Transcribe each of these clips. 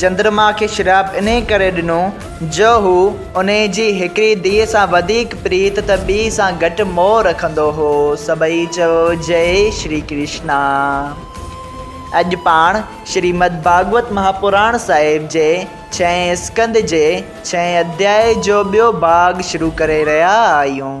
چندرما کي شراب انهي ڪري ڏنو جو هو انهي جي هڪڙي ڌيء سان وڌيڪ پريت ته ٻي سان گهٽ موهه رکندو هو. سڀئي چئو جئي شري ڪرشنا. اڄ پاڻ شريمد ڀاڳوت مهاپراڻ صاحب جي ڇهين اسڪنڌ جي ڇهين اڌيائي جو ٻيو ڀاڳ شروع ڪري رهيا آهيون.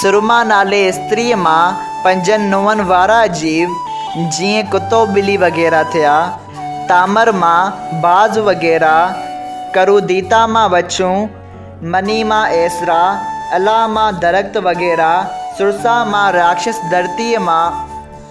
سرما نالي استريء مان پنجن ننهن وارا عجيب، جيئن ڪتو ٻلي وغيره ٿيا، تامر مان باز وغيره، ڪروديتا مان وڇون، مني مان ايسرا، الا مان درخت وغيره، سرسا مان راڪشس ڌرتيء مان،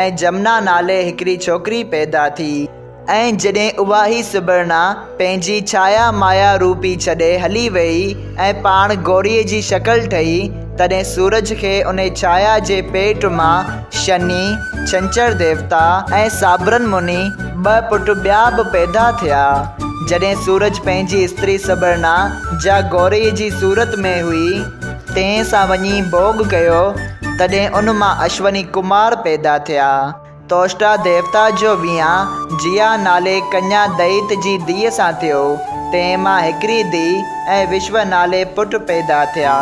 ۽ جمنا نالي هڪڙي ڇوڪري پيدا ٿي ۽ جڏهن اها هي سبرنا پنهنجي ڇايا مايا روپي ڇڏي هلي ويئي ۽ پاڻ گوريء جي شڪل ٺهي تڏهن سورج کي ان ڇايا جي پيٽ مان شني، ڇنڇر ديوتا ۽ سابرن مني ٻه پٽ ٻيا به پيدا ٿيا. جڏهن سورج پنهنجي استري سبرنا جا گوريء جي صورت ۾ هئي تنهن سان وڃي ڀوڳ ڪيو. تڏهن ان مان اشوني ڪمار پيدا ٿيا. توشٽا ديوتا جو ويهان جيا نالي ڪنيا دئيت جي ڌيء سان ٿيو، تنهن مان هڪڙي ڌيء ۽ وشو نالي پٽ پيدا ٿيا،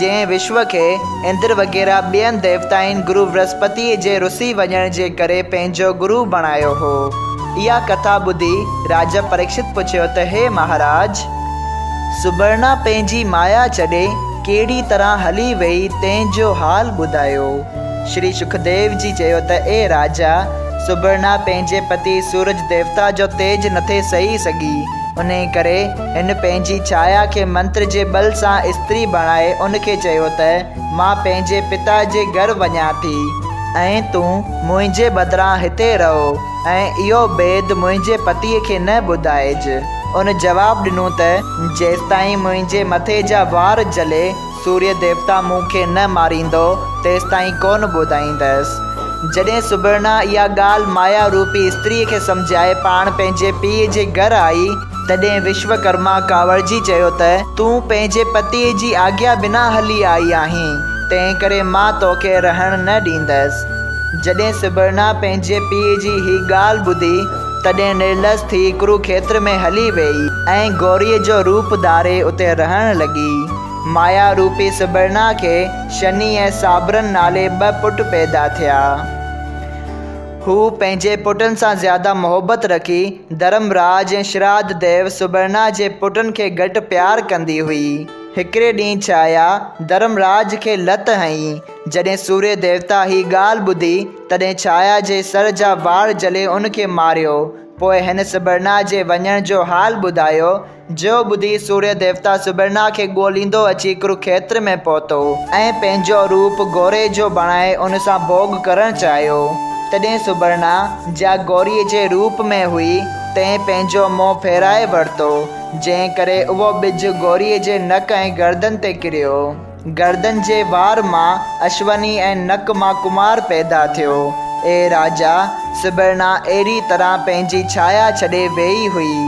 جنهن وشو کي اندر وغيره ٻين ديوتائن گرو ورهسپتيء جي رسي وڃڻ جي ڪري پنهنجو گرو بڻايو هو. اها ڪٿا ٻڌي راجا پريڪشت پڇيو ته هي مهاراج! سبرنا پنهنجي مايا ڇڏي ڪهڙي طرح هلي ويئي تنهن جو حال ٻڌايو. شري سکديو جي چيو ته اي راجا! سبرنا پنهنجي پتي سورج ديوتا جو تيج نٿي سهي سگهي، انهي ڪري هن پنهنجي ڇايا کي منتر جي ٻل سان استري بڻائي ان کي چيو ته مان پنهنجي پتا جي گهر وڃان ٿي ۽ تون منهنجي بدران هتي رهو ۽ اهو بيد منهنجي پتي کي نه ٻڌائج. ان جواب ڏنو ته، جيستائين منهنجي مٿي جا وار جلي، سوريء ديوتا مون کي نه ماريندو، تيستائين ڪونه ٻڌائيندس. جڏهن سبرنا اها ڳالهه مايا روپي استريء کي سمجهائي پاڻ پنهنجي پيء جي گهر آئي، تڏهن وشوڪرما ڪاوڙجي چيو ته، تون پنهنجي پتيء جي آگيا بنا هلي آئي آهين، تنهنڪري مان توکي رهڻ نه ڏيندس. جڏهن سبرنا پنهنجي پيء جي هي ڳالهه ٻڌي، تڏهن نرلس ٿي ڪروکيتر ۾ هلي ويئي ۽ گوريء جو روپ ڌاري اتي رهڻ لڳي. مايا روپي سبرنا کي شني ۽ صابرن نالي ٻه پٽ پيدا ٿيا. هوء پنهنجي پٽن سان زياده محبت رکي، ڌرم راج ۽ شراڌ ديو سبرنا جي پٽن کي گهٽ پيار ڪندي هئي. هڪڙي ڏينهن ڇايا ڌرم راج کي لت هنئي. جڏهن سوريه ديوتا هي ڳالهه ٻڌي، تڏهن ڇايا جي سر جا وار جلي ان کي ماريو. پوء هن سبرنا جي وڃڻ جو حال ٻڌايو. جو ٻڌي سوريه ديوتا سبرنا کي ڳوليندو اچي ڪروکيتر ۾ پهتو ۽ پنهنجو روپ گوري جو بڻائي ان سان ڀوڳ ڪرڻ چاهيو. تڏهن سبرنا، جا گوريء جي روپ ۾ هئي، تنهن پنهنجو منهن ڦيرائي ورتو، جنهن ڪري اهو ٻج گوريء جي نڪ ۽ گردن تي ڪريو. گردن جي وار مان اشوني ۽ نڪ مان ڪمار پيدا ٿيو. اي راجا، سبرنا اهڙي طرح پنهنجي ڇايا ڇڏي ويئي هئي.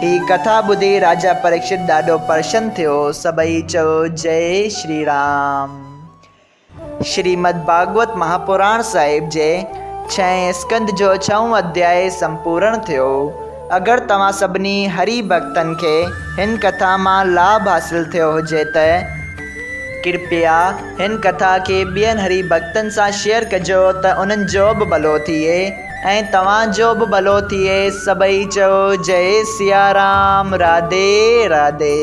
هي ڪٿا ٻڌي راجا پريڪشت ڏاڍو پرشن ٿيو. سڀئي چيو جئي شري رام. شريمد ڀاڳوت مهاپراڻ صاحب جي ڇهين اسڪنڌ جو ڇهون اڌيائي سمپورڻ ٿيو. اگر توهان سڀني هري ڀڳتن کي هن ڪٿا مان لاڀ حاصل ٿيو هجي ته ڪرپيا هن ڪٿا کي ٻين هري ڀڳتن سان شيئر ڪجو ته انهن جو به ڀلو ٿئي ۽ توهان جو به ڀلو ٿئي سڀئي چئو جئي سيارام راڌي راڌي.